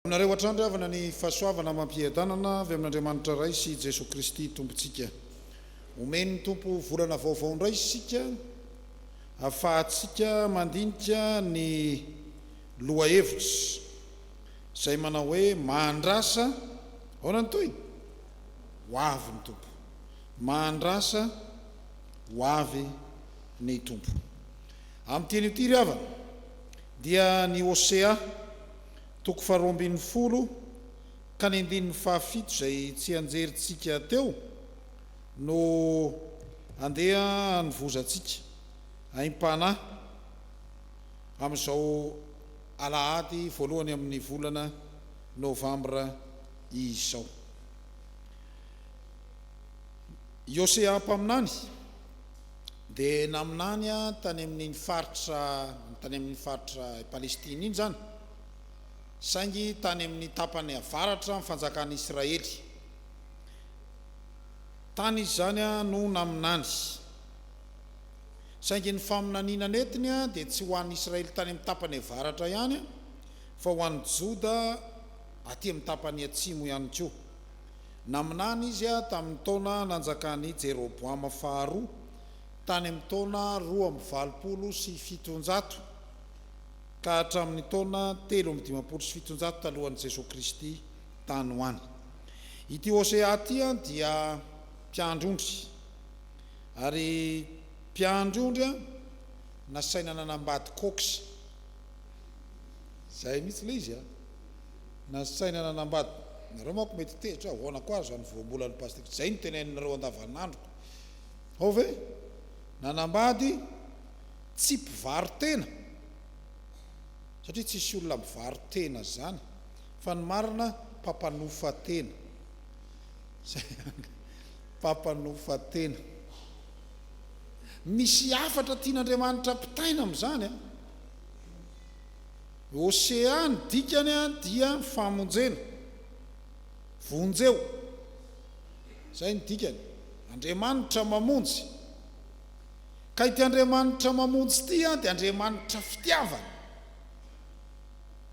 Aminareo hatrany ry havana ny fahasoavana amam-piadanana avy amin'Andriamanitra Ray sy Jesoa Kristy Tompontsika. Omen'ny Tompo volana vaovao indray isika hahafahantsika mandinika ny lohahevitra izay manao hoe Mahandrasa, aona ny tohiny? Ho avy ny Tompo. Mahandrasa ho avy ny Tompo. Amin'ny teny ity ry havana dia ny Hosea toko faharoa ambin'ny folo ka ny andininy fahafito izay tsianjerintsika teo no andeha hanovozantsika aim-panahy amin'izao alahady voalohany amin'ny volana novambra izao. I Hosea mpaminany dia naminany tany amin'iny faritra tany amin'iny faritra i Palestina iny izany, saingy tany amin'ny tapany avaratra amin'ny fanjakan'i Israely. Tany izy izany no naminany. Saingy ny faminaniana nentiny dia tsy ho an'ny Israely tany amin'ny tapany avaratra ihany fa ho an'ny Joda aty amin'ny tapany atsimo ihany koa. Naminany izy tamin' ny taona nanjakan' i Jeroboama faharoa, tany amin' ny taona roa amby valopolo sy fitonjato ka hatramin' ny taona telo amby dimampolo sy fitonjato talohan' i Jesoa Kristy tany ho any. Ity Hosea ity dia mpiandry ondry, ary mpiandry ondry nasaina nanambady cox. Izay mihitsy ilay izy. Nasaina nanambady nareo manko mety tezitra aho ahoana koa ary zany voambolan'ny pastiko tsy zay no teneninareo andavanandroko hao ve nanambady tsy mpivaro tena satria tsisy olona mivaro tena zany fa ny marina mpampanofa tena zay anga mpampanofa tena misy hafatra tian'Andriamanitra ampitaina amzany a. Hosea ny dikany dia famonjena. Vonjeo. Izay ny dikany. Andriamanitra mamonjy. Ka ity Andriamanitra mamonjy ity dia Andriamanitra fitiavana.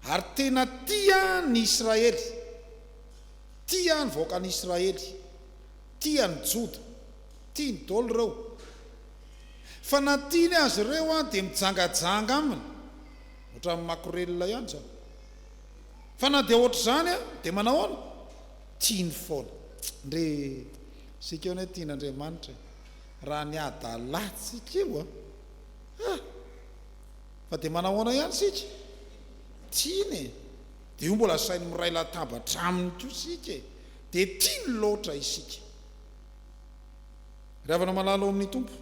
Ary tena tia ny Israely. Tia ny vahoakan'i Israely. Tia ny Joda. Tiany daholo ireo. Fa na tiany azy ireo dia mijangajanga aminy. Ohatran'ny makorelina ihany izany. Fa na dia ohatr'izany aza dia manahoana? Tiany foana. Ndry isika hono e tian'Andriamanitra e! Raha ny adalantsika io a! Ah! Fa dia manahoana ihany isika? Tiany e! Dia io mbola asainy miray latabatra aminy koa isika e! Dia tiany loatra isika. Ry havana malala ao amin'ny Tompo.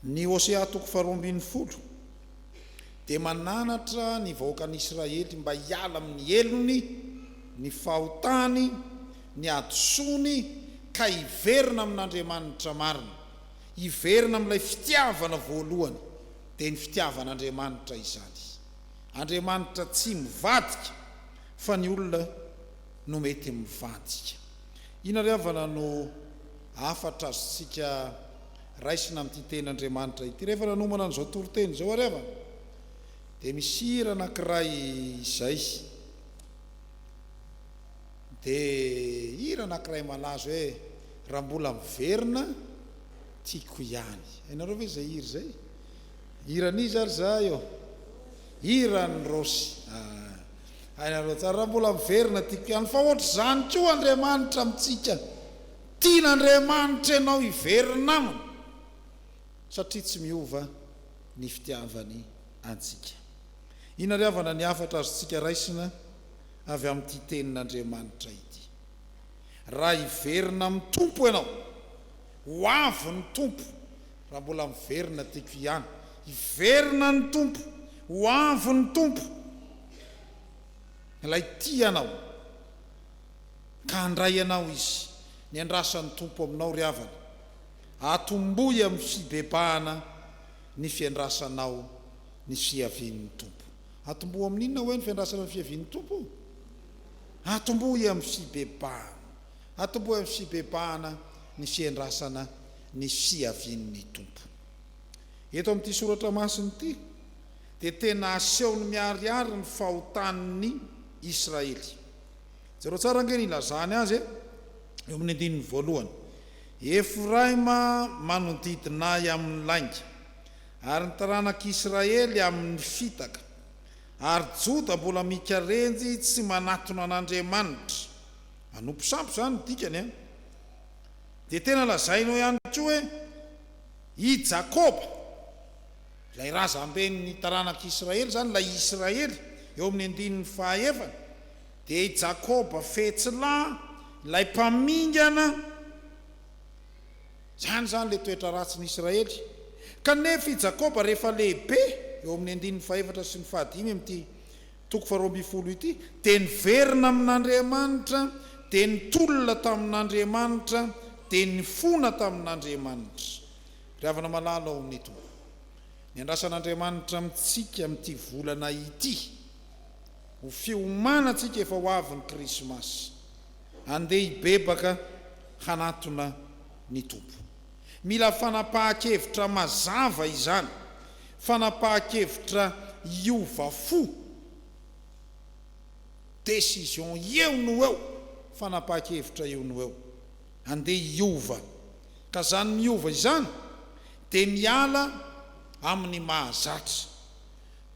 Ny Hosea toko faharoa ambin'ny folo dia mananatra ny vahoakan'Israely mba hiala amin'ny helony, ny fahotany, ny hadisoany ka hiverina amin'Andriamanitra marina, hiverina amin'ilay fitiavana voalohany, dia ny fitiavan'Andriamanitra izany. Andriamanitra tsy mivadika fa ny olona no mety mivadika. Inona ry havana no hafatra azontsika raisina amin'ity teny Andriamanitra ity? Rehefa nanomana an'izao toriteny izao ary havana dia misy hira anankiray izay dia hira anankiray malaza hoe raha mbola miverina tiako ihany. Hainareo ve izay hira izay? Hiran'iza ary za eo? Hiran'i Rossy. Ah. Hainareo tsara raha mbola miverina tiako ihany fa ohatr'izany koa Andriamanitra amintsika, tian'Andriamanitra ianao hiverina aminy satria tsy miova ny fitiavany antsika. Inona ary havana ny hafatra azontsika raisina avy amin'ity tenin'Andriamanitra ity? Raha hiverina amin'ny Tompo ianao, ho avy ny Tompo. Raha mbola miverina tiako hiany. Hiverina ny Tompo, ho avy ny Tompo, Ilay tia anao ka handray anao Izy. Miandrasa ny Tompo aminao ry havana. Atombohy amin'ny fibebahana ny fiandrasanao ny fiavian'ny Tompo. Atombohy amin'ny inona hoe ny fiandrasana ny fiavian'ny Tompo? Atombohy amin'ny fibebahana. Atombohy amin'ny fibebahana ny fiandrasana ny fiavian'ny Tompo. Eto amin'ity soratra masina ity dia tena asehony miharihary ny fahotan'ny Israely. Jereo tsara ange ny ilazany azy e, eo amin'ny andininy voalohany, Efraima manodidina ahy amin'ny lainga, ary ny taranak'Israely amin'ny fitaka, ary Joda mbola mikarenjy tsy manatona an'Andriamanitra. Manompo sampy izany ny dikany a! Dia tena lazainao ihany koa hoe i Jakoba, ilay razamben'ny taranak'Israely izany, ilay Israely eo amin'ny andininy fahaefany, dia i Jakoba fetsilahy, ilay mpamingana, izany izany ilay toetra ratsin'i Israely. Kanefa i Jakoba rehefa lehibe, eo amin'ny andininy fahefatra sy ny fahadimy amin'ity Toko faharoa ambin'ny folo ity dia niverina amin'Andriamanitra, dia nitolona tamin'Andriamanitra, dia nifona tamin'Andriamanitra. Ry havana malala ao amin'ny Tompo, ny andrasan'Andriamanitra amintsika amin'ity volana ity, ho fiomanantsika efa ho avy ny Krismasy. Andeha hibebaka hanatona ny Tompo. Mila fanapahan-kevitra mazava izany, fanapahan-kevitra hiova fo, décision eo no eo, fanapahan-kevitra eo no eo, andeha hiova, ka izany miova izany dia miala amin'ny mahazatra.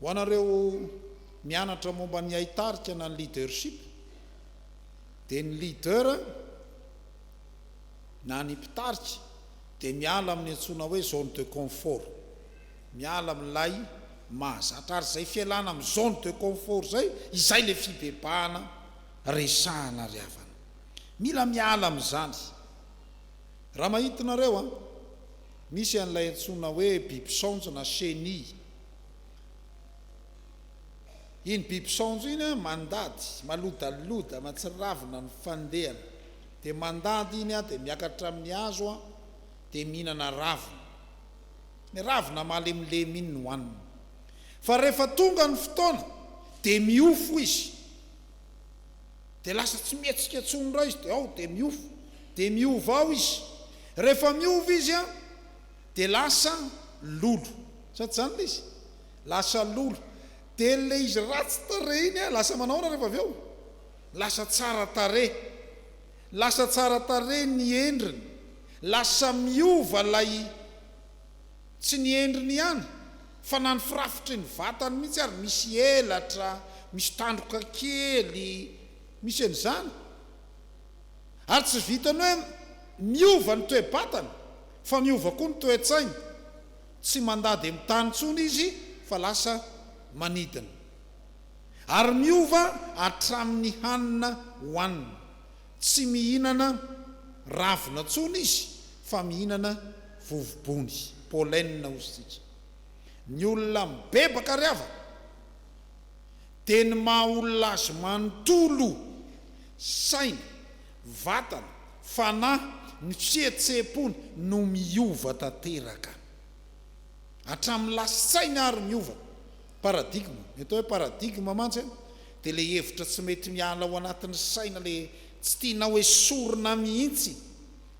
Ho anareo mianatra momba ny haitarika na ny leadership dia ny leader, na ny mpitarika dia miala amin'ny antsoina hoe zone de confort, miala amin'ilay mahazatra ary izay fialana amin'ny zone de confort izay, izay ilay fibebahana resahana ry havana. Mila miala amin'izany. Raha mahita nareo an, misy an'ilay antsoina hoe biby saonjo na chenille. Iny biby saonjo iny an, mandady, malodaloda, mahatsiravina ny fandehany. Dia mandady iny aho dia miakatra amin'ny hazo aho dia mihinana ravina. Ny ravina malemilemy iny no hanina. Fa rehefa tonga ny fotoana dia miofo izy. Dia lasa tsy mihetsika intsony indray izy dia ao dia miofo. Dia miova ao izy. Rehefa miova izy an, dia lasa lolo. Sa tsy izany ilay izy? Lasa lolo. Dia ilay izy ratsy tarehy iny an, lasa manahoana rehefa avy eo? Lasa tsara tarehy. Lasa tsara tarehy ny endriny. Lasa miova ilay Tsy ny endriny ihany fa na ny firafitry ny vatany mihitsy ary misy elatra, misy tandroka kely, misy an'izany. Ary tsy vitan'ny hoe miova ny toe-batany fa miova koa ny toe-tsainy. Tsy mandady amin'ny tany intsony izy fa lasa manidina. Ary miova hatramin'ny hanina hohanina. Tsy mihinana ravina intsony izy fa mihinana vovobony, pollen hozy isika. Ny olona mibebaka ry havana dia ny maha olona azy manontolo, saina, vatana, fanahy, ny fihetseham-pony no miova tanteraka. Hatramin'ny lasi-tsaina ary miova. Paradigme, ny atao hoe paradigme mantsy an, dia ilay hevitra tsy mety miala ao anatin'ny saina ilay tsy tianao esorina mihitsy,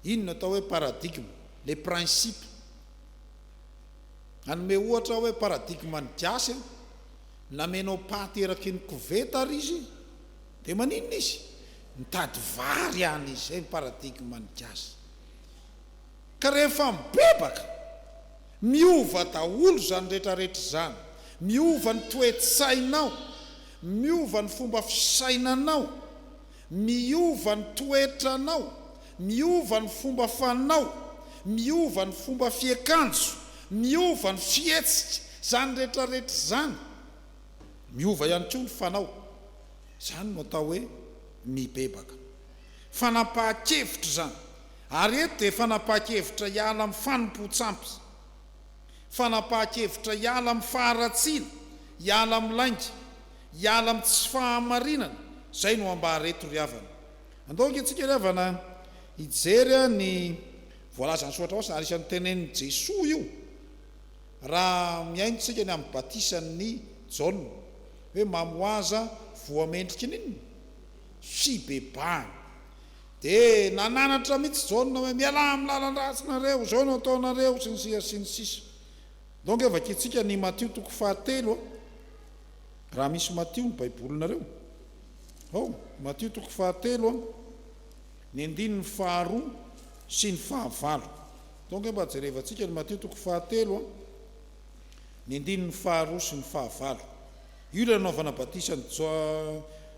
iny no atao hoe paradigme, ilay principe. Hanome ohatra aho hoe paradigme an'i Gasy an, namenao paty eraky ny koveta ary izy dia maninona izy? Mitady vary any izy, izay ny paradigme an'i Gasy. Ka rehefa mibebaka! Miova daholo izany rehetrarehetra izany. Miova ny toe-tsainao. Miova ny fomba fisainanao. Miova ny toetranao. Miova ny fomba fanao. Miova ny fomba fiakanjo. Miova ny fihetsika. Izany rehetrarehetra izany. Miova ihany koa ny fanao. Izany no atao hoe mibebaka. Fanapahan-kevitra izany. Ary eto dia fanapahan-kevitra hiala amin'ny fanompoan-tsampy, fanapahan-kevitra hiala amin'ny faharatsiana, hiala amin'ny lainga, hiala amin'ny tsy fahamarinana, izay no ambara eto ry havana. Andao ange tsika ry havana hijery ny voalazan'ny soratra masina, ary isan'ny tenenin'i Jesoa io raha mihaino tsika ny amin'ny batisan'i Jaona, hoe mamohaza voa mendrika n'inona? fibebahana. Dia nananatra mihitsy Jaona hoe mialà amin'ny lalan-dratsinareo, izao no ataonareo sy ny sisa sy ny sisa. Ndao ange vakintsika ny Matio toko fahatelo a! Raha misy Matio ny baibolinareo. Ao, Matio toko fahatelo a! Ny andininy faharoa sy ny fahavalo. Ndao ange mba jerevantsika ny Matio toko fahatelo a! Ny andininy faharoa sy ny fahavalo. Io ilay nanaovana batisa an'i J,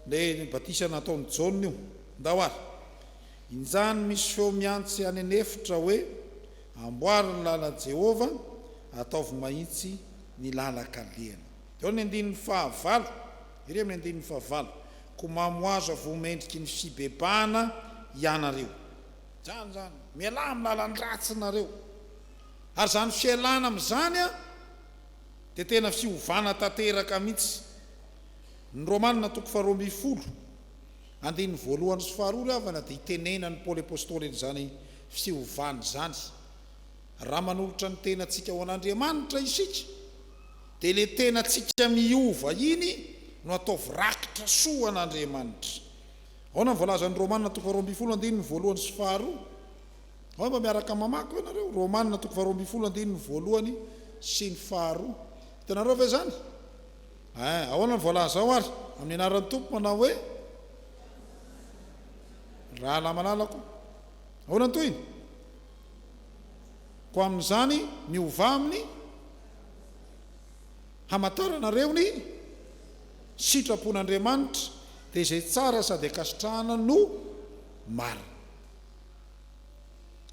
ilay batisa nataon'i Jaona io, ndao ary. Injany misy feo mihantsy any an'efitra hoe, Amboary ny lalan'i Jehovah, ataovy mahitsy ny lalan-kalehany. Dia ao ny andininy fahavalo, ery amin'ny andininy fahavalo, Koa mamohaza voa mendriky ny fibebahana hianareo. Izany izany, mialà amin'ny lalan-dratsinareo. Ary izany fialana amin'izany an! dia tena fiovana tanteraka mihitsy. Ny Romana toko faharoa ambin'ny folo, andininy voalohany sy faharoa ry havana dia itenenan'i Paoly Apostoly an'izany fiovana izany. Raha manolotra ny tenantsika ho an'Andriamanitra isika dia ilay tenantsika miova iny no ataovy rakitra soa ho an'Andriamanitra. Ahoana ny voalazan'ny Romana toko faharoa ambin'ny folo, andininy voalohany sy faharoa? Angamba miaraka mamaky koa ianareo Romana toko faharoa ambin'ny folo andininy voalohany sy ny faharoa. Hitanareo ve izany? Ee, ahoana no voalaza ao ary? Amin'ny anaran'ny Tompo manao hoe, Rahalahy malalako. Ahoana ny tohiny? Koa amin'izany miovà amin'ny hamantaranareo ny sitrapon'Andriamanitra, dia izay tsara sady ankasitrahana no marina.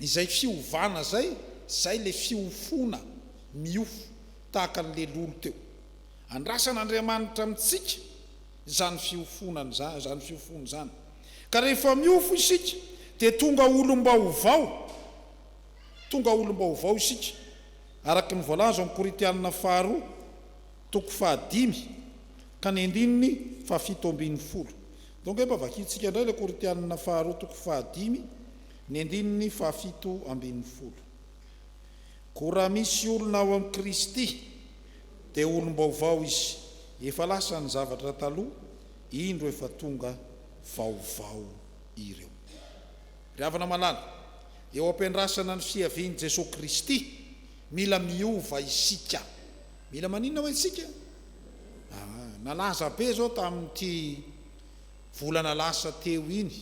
Izay fiovana izay, izay ilay fiofoana miofo tahaka ny lelolo teo. Andrasan'Andriamanitra amintsika izany fiofoana izany fiofoana izany. Ka rehefa miofo isika dia tonga olom-baovao, tonga olom-baovao isika, araka ny voalaza ao amin'ny Korintianina faharoa toko fahadimy ka ny andininy fahafito ambin'ny folo. Donc efa vakintsika indray ilay Korintianina faharoa toko fahadimy ny andininy fahafito ambin'ny folo. Koa raha misy olona ao amin'i Kristy dia olom-baovao izy, efa lasa ny zavatra taloha, indro efa tonga vaovao ireo. Ry havana malala, eo am-piandrasana ny fiavian'i Jesoa Kristy, mila miova isika. Mila maninona hoy isika? Ah, nalaza be izao tamin'ity volana lasa teo iny,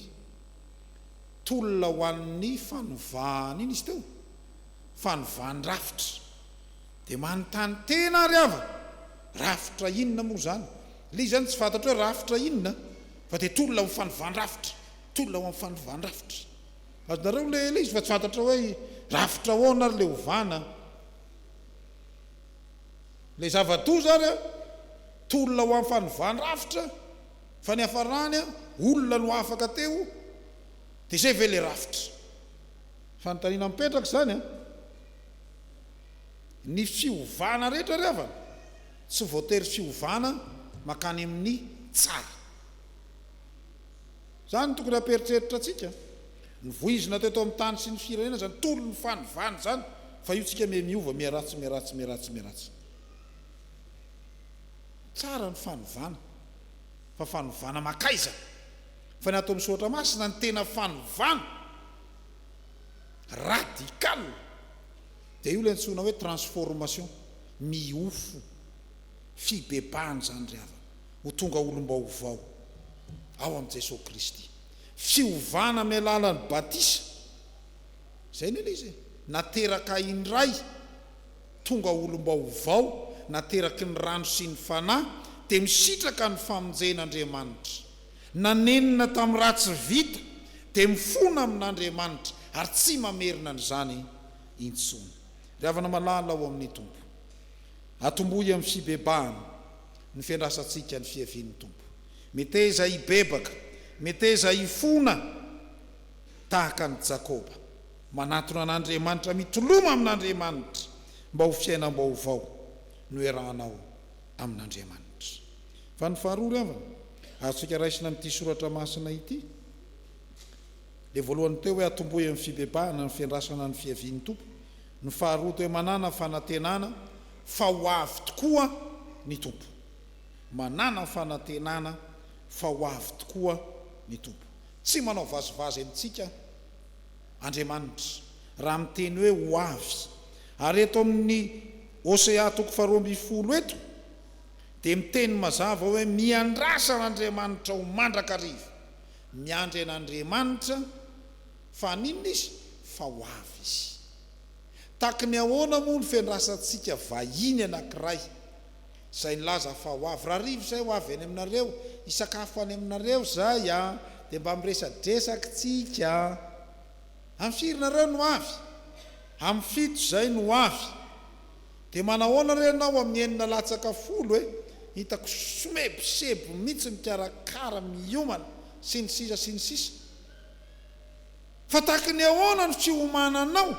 tolona ho an'ny fanovana iny izy teo, fanovandrafitra. Dia manontany tena ary aho, rafitra inona moa izany? Ilay izy izany tsy fantatro hoe rafitra inona, fa dia tolona ho fanovandrafitra, tolona ho an'ny fanovandrafitra. Azonareo ilay izy fa tsy fantatro hoe rafitra ahoana ary ilay ovana. Ilay zava-doza ary an, tolona ho amin'ny fanovan-drafitra fa ny hafarany an, olona no afaka teo, dia izay ve ilay rafitra? Fanontaniana mipetraka izany an. Ny fiovana rehetra ry havana tsy voatery fiovana mankany amin'ny tsara. Izany no tokony hampieritreritra antsika. Ny voizina teto amin'ny tany sy ny firenena izany tolon'ny fanovana izany fa io tsika miha miova miha ratsy miha ratsy miha ratsy miha ratsy. Tsara ny fanovana fa fanovana makaiza fa ny ato amin'ny Soratra Masina ny tena fanovana radical dia io ilay antsoina hoe transformation, miofo, fibebahan'izany ry havana. ho tonga olom-baovao ao amin'i Jesoa Kristy. Fiovana amin'ny alalan'ny batisa, izay ny ilay izy e, nateraka indray, tonga olom-baovao nateraky ny rano sy ny Fanahy, dia misitraka ny famonjen'Andriamanitra. Nanenina tamin'ny raha tsy vita, dia mifona amin'Andriamanitra ary tsy mamerina an'izany intsony. Ry havana malala ao amin'ny Tompo, Atombohy amin'ny fibebahana ny fiandrasantsika ny fiavian'ny Tompo. Meteza hibebaka, meteza hifona tahaka an'i Jakoba, manantona an'Andriamanitra, mitoloma amin'Andriamanitra mba ho fiainam-baovao noerahanao amin'Andriamanitra. Fa ny faharoa ry havana, azontsika raisina amin'ity soratra masina ity, ilay voalohany teo hoe atombohy amin'ny fibebahana ny fiandrasana ny fiavian'ny Tompo, Ny faharoa toe manana fanantenana fa ho avy tokoa ny Tompo. Manana fanantenana fa ho avy tokoa ny Tompo. Tsy manao vazivazy amintsika Andriamanitra raha miteny hoe ho avy. Ary eto amin'ny Hosea toko faharoa ambin'ny folo eto dia miteny mazava hoe miandrasa an'Andriamanitra ho mandrakariva. Miandry an'Andriamanitra. Fa haninona izy? Fa ho avy izy. Tahaky ny ahoana moa ny fiandrasantsika vahiny anankiray izay nilaza fa ho avy? Rahariva izay ho avy any aminareo, hisakafo any aminareo izay, dia mba miresadresaka isika. Amin'ny firy nareo no ho avy? Amin'ny fito izay no ho avy. Dia manahoana re ianao amin'ny enina latsaka folo e? Hitako somebiseby mihitsy mikarakara, miomana, sy ny sisa sy ny sisa. Fa tahaky ny ahoana ny fiomananao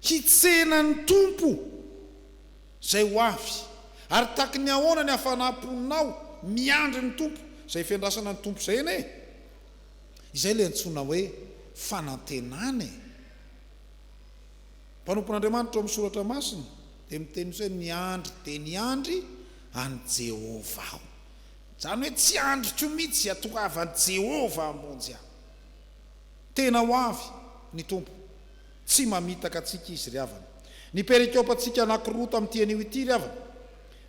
hitsena ny Tompo izay ho avy? Ary tahaky ny ahoana ny hafanam-ponao miandry ny Tompo izay fiandrasana ny Tompo izay anie? Izay ilay antsoina hoe fanantenana e! Mpanompon'Andriamanitra ao amin'ny Soratra Masina dia miteny hoe miandry dia niandry an'i Jehovah aho. Izany hoe tsy andriko mihitsy hatoavan'i Jehovah hamonjy ahy. Tena ho avy ny Tompo. Tsy mamitaka antsika izy ry havana. Ny perikopantsika anankiroa tamin'ity anio ity ry havana,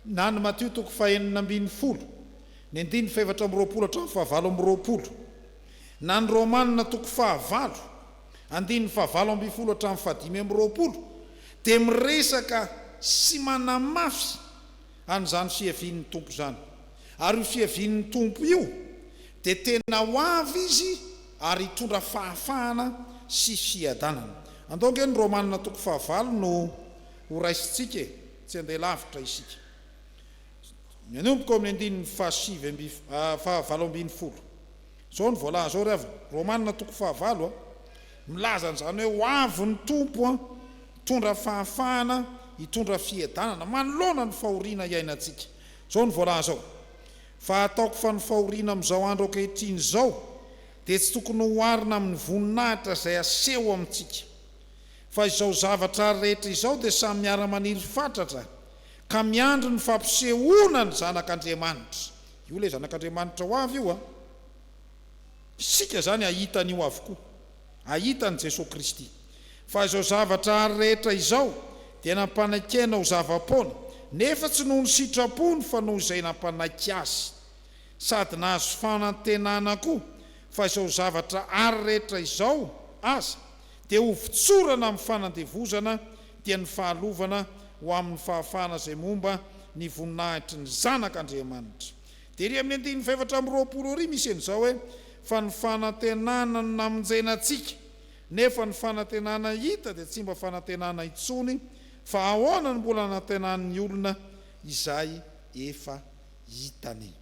na ny Matio toko fahenina ambin'ny folo, ny andininy fahefatra amby roapolo hatramin'ny fahavalo amby roapolo, na ny Romana toko fahavalo, andininy fahavalo ambin'ny folo hatramin'ny fahadimy amby roapolo, dia miresaka sy manamafy an'izany fiavian'ny Tompo izany. Ary io fiavian'ny Tompo io dia tena ho avy Izy ary hitondra fahafahana sy fiadanana. Andao ange ny Romana toko fahavalo no ho raisintsika e, tsy handeha lavitra isika. Manomboka ao amin'ny andininy fahasivy amby, fahavalo ambin'ny folo. Izao no voalaza ao ry havana, Romana toko fahavalo a. Milaza an'izany hoe ho avy ny Tompo hitondra fahafahana, hitondra fiadanana manoloana ny fahoriana iainantsika. Izao no voalaza ao, Fa ataoko fa ny fahoriana amin'izao andro ankehitriny izao dia tsy tokony hoharina amin'ny voninahitra izay aseho amintsika. Fa izao zavatra rehetra izao dia samy miara-maniry fatratra ka miandry ny fampisehoana ny Zanak'Andriamanitra. Io ilay Zanak'Andriamanitra ho avy io an! Isika izany hahita an'io avokoa. Hahita an'i Jesoa Kristy. Fa izao zavatra ary rehetra izao dia nampanaiky Aina ho zava-poana, nefa tsy noho ny sitrapony fa noho izay nampanaiky Azy. Sady nahazo fanantenana koa fa izao zavatra ary rehetra izao aza dia ho votsorana amin'ny fanandevozana, dia ny fahalovana ho amin'ny fahafahana izay momba ny voninahitry ny Zanak' Andriamanitra. Tery amin'ny andininy fahefatra amby roapolo ary misy an'izao hoe, Fa ny fanantenana no namonjena antsika, nefa ny fanantenana hita dia tsy mba fanantenana intsony, fa ahoana no mbola anantenan'ny olona izay efa hitany?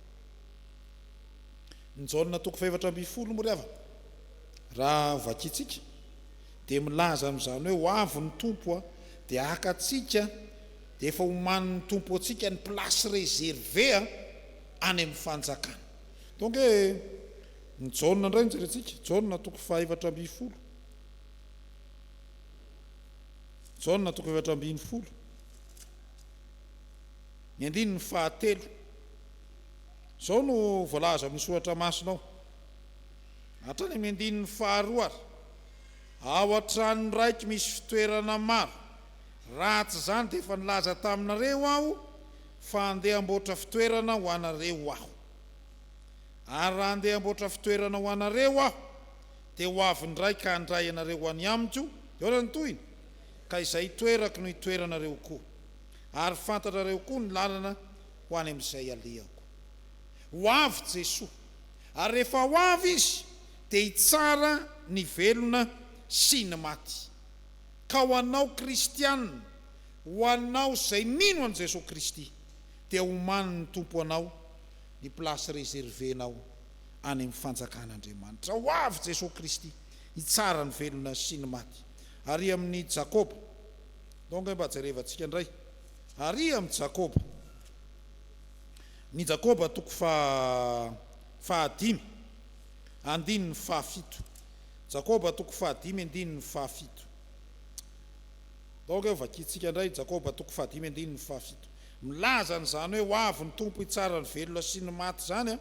Ny Jaona toko fahefatra ambin'ny folo moa ry havana raha ho vakintsika dia milaza amin'izany hoe, Ho avy ny Tompo dia haka antsika, Efa homanin'ny Tompo antsika ny place reservée a, any amin'ny fanjakana. Donc hoe ny Jaona indray no jerentsika, Jaona toko fahaefatra ambin'ny folo, Jaona toko efatra ambin'ny folo, ny andininy fahatelo. Izao no voalaza amin'ny soratra masina ao, hatrany amin'ny andininy faharoa ary, Ao an-trano raiky misy fitoerana maro, Raha tsy izany dia efa nilaza taminareo aho fa handeha hamboatra fitoerana ho anareo aho. Ary raha handeha hamboatra fitoerana ho anareo aho, dia ho avy indray ka handray anareo ho any amiko, dia ahoana ny tohiny? Ka izay itoerako no hitoeranareo koa, ary fantatrareo koa ny lalana ho any amin'izay alehako. Ho avy Jesoa, ary rehefa ho avy Izy, dia hitsara ny velona sy ny maty. Ka ho anao kristiana, ho anao izay mino an'i Jesoa Kristy, dia homanin'ny Tompo anao ny place reservenao any amin'ny fanjakan'Andriamanitra. Ho avy Jesoa Kristy hitsara ny velona sy ny maty. Ary amin'i Jakoba, ndao ange mba jerevantsika indray, ary amin'i Jakoba, ny Jakoba toko faha fahadimy, andininy fahafito. Jakoba toko fahadimy andininy fahafito. Donc eo vakintsika indray Jakoba toko fahadimy andininy fahafito. Milaza an'izany hoe ho avy ny Tompo hitsara ny velona sy ny maty izany an,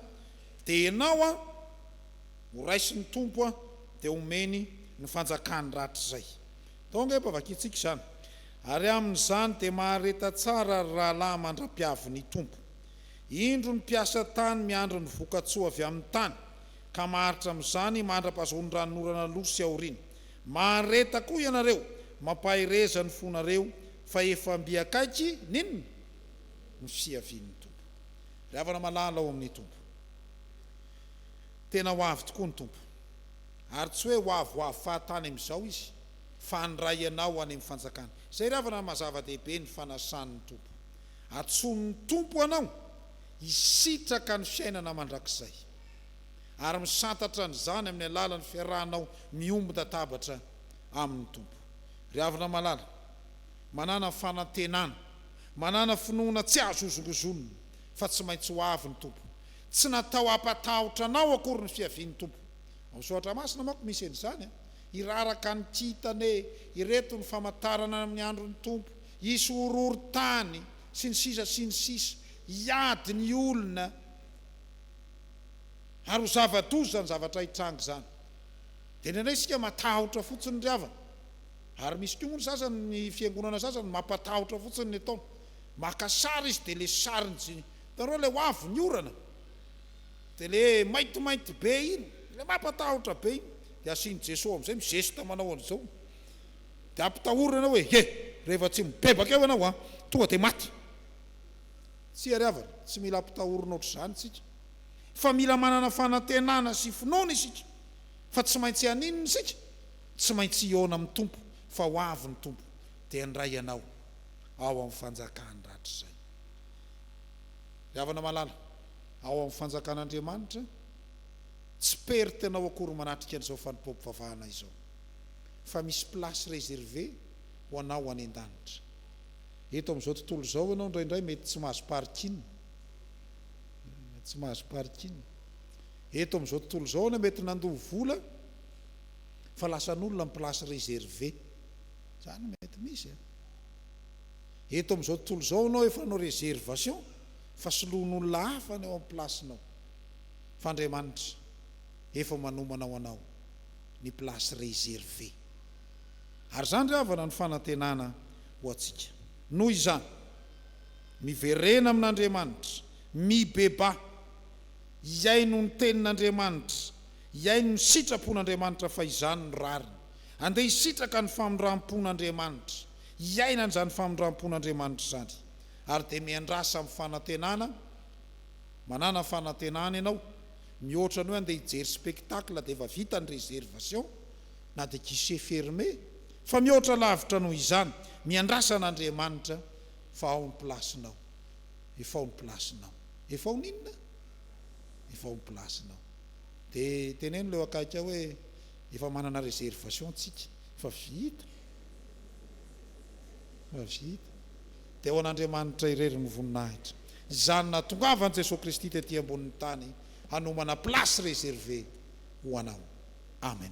dia ianao an, ho raisin'ny Tompo an, dia homeny ny fanjakany rahatrizay. Donc efa vakintsika izany. Ary amin'izany dia mahareta tsara ry rahalahy mandra-piavin'ny Tompo. Indro ny mpiasa tany miandry ny voka-tsoa avy amin'ny tany. ka maharitra amin'izany mandra-pahazoan'ny ranonorana aloha sy aoriana. Mahareta koa ianareo, mampahereza ny fonareo fa efa mby akaiky ny inona? ny fiavian'ny Tompo. Ry havana malala ao amin'ny Tompo, tena ho avy tokoa ny Tompo, ary tsy hoe ho avy ho avy fahatany amin'izao Izy, fa handray ianao any amin'ny fanjakany. Izay ry havana no maha-zava-dehibe ny fanasan'ny Tompo. Antsoin'ny Tompo anao hisitraka ny fiainana mandrakizay. ary misantatra an'izany amin'ny alalan'ny fiarahanao miombon-databatra amin'ny Tompo. Ry havana malala, manàna fanantenana, manàna finoana tsy azo hozongozonina fa tsy maintsy ho avy ny Tompo. Tsy natao hampatahotra anao akory ny fiavian'ny Tompo. Ao amin'ny Soratra Masina manko misy an'izany, Hiraraka ny kintana e! Ireto ny famantarana amin'ny andron'ny Tompo, hisy horohorontany sy ny sisa sy ny sisa, hiady ny olona. Ary ho zava-doza izany zavatra hitranga izany. Dia indraindray isika matahotra fotsiny ry havana. Ary misy koa moa ny sasany, ny fiangonana sasany mampatahotra fotsiny ny ataony. Maka sary izy dia ilay sarin'i Jesosy. Hitanareo ilay ho avy ny orana? Dia ilay maintimainty be iny, ilay mampatahotra be iny. Dia asian'i Jesosy ao amin'izay, mi-geste manao an'izao. Dia ampitahoriny ianao hoe, Ye, rehefa tsy mibebaka eo ianao, tonga dia maty. Tsia ry havana, tsy mila ampitahorina ohatr'izany isika. Fa mila manana fanantenana sy finoana isika fa tsy maintsy haninona isika? Tsy maintsy hihaona amin'ny Tompo, fa ho avy ny Tompo dia handray ianao ao amin'ny fanjakany rahatrizay. Ry havana malala, ao amin'ny fanjakan'Andriamanitra, tsy perte nao akory manatrika an'izao fanompoam-pivavahana izao, fa misy place reservée ho anao any an-danitra. Eto amin'izao tontolo izao ianao indraindray mety tsy mahazo parking. Mety tsy mahazo parking. Eto amin'izao tontolo izao ianao mety nandoa vola fa lasan'olona ny place réservée. Izany mety misy an. Eto amin'izao tontolo izao ianao efa hanao réservation fa soloan'olona hafa ny ao amin'ny place-nao. Fa Andriamanitra efa manomana ho anao ny place réservée. Ary izany ry havana no fanantenana ho antsika. Noho izany, miverena amin'Andriamanitra, mibebaha, hihaino ny Tenin'Andriamanitra, hihaino ny sitrapon'Andriamanitra fa izany no rariny. Andeha hisitraka ny famindram-pon'Andriamanitra, hiaina an'izany famindram-pon'Andriamanitra izany. Ary dia miandrasa amin'ny fanantenana, manana fanantenana ianao, mihoatra ny hoe andeha hijery spectacle dia efa vita ny réservation, na dia guichet fermé, fa mihoatra lavitra noho izany, miandrasa an'Andriamanitra fa ao ny place-nao, efa ao ny place-nao, efa ao n'inona? efa ao ny place-nao, dia teneno ilay eo akaiky ao hoe efa manana réservation tsika, efa vita, efa vita, dia ao an'Andriamanitra irery ny voninahitra, izany nahatongavan'i Jesoa Kristy tety ambonin'ny tany hanomana place réservée ho anao. Amen.